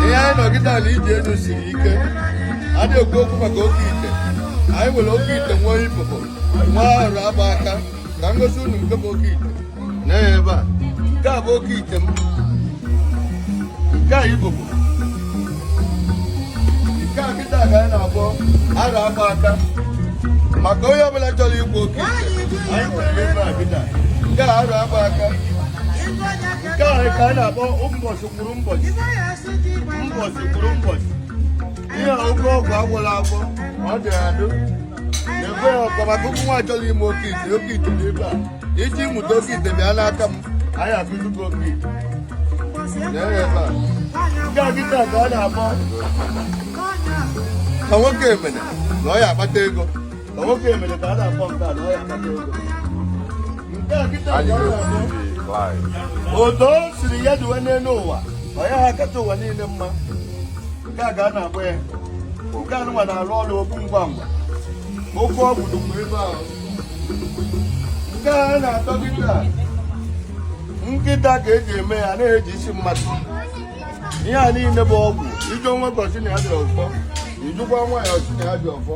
ihe anyị nọgide ala ije elu siri ike a na-ekwu okwu maka oke ite anyị nwere oke ite nwee ibobo nwee arọ agba aka ka m gosi unu nke bụ oke ite nee ya ebe a nke a bụ oke ite m nke a ibobo nke a kịta ka anyị na-akpọ arọ agba aka maka onye ọbụla chọrọ ikwu oke ite anyị nwere ebe a kịta nke a arọ agba aka nke ahụ ka a na-akpọ ụbọchị kwuru ụbọchị ụbọchị kwuru ụbọchị ihe a oke ọgwụ a gwọlụ agwọ ọ dị adụ na-ekwe ya ọkwa maka ụmụ nwa chọrọ ime oke ite oke ite dị ebe a iji mụta oke ite bịa n'aka m anyị akụzi gị oke ite Lee ya ebe a. nke a kịta ka a na-akpọ ka nwoke emene na ọ ya akpata ego otu o siri ya duwe n'elu ụwa ọ ya akacha ụwa niile mma nke a ka a na-akpọ ya nke a nụnwa na-arụ ọrụ okwu ngwa ngwa oke ọgwụ dụkwa ebe ahụ nke a na-atọ kịta nkịta ka eji eme ya na-eji isi mmadụ ihe a niile bụ ọgwụ ị jụọ nwoke ọ sị na ya ji ọfọ ị jụkwa nwaanyị ọ sị na ya ji ọfọ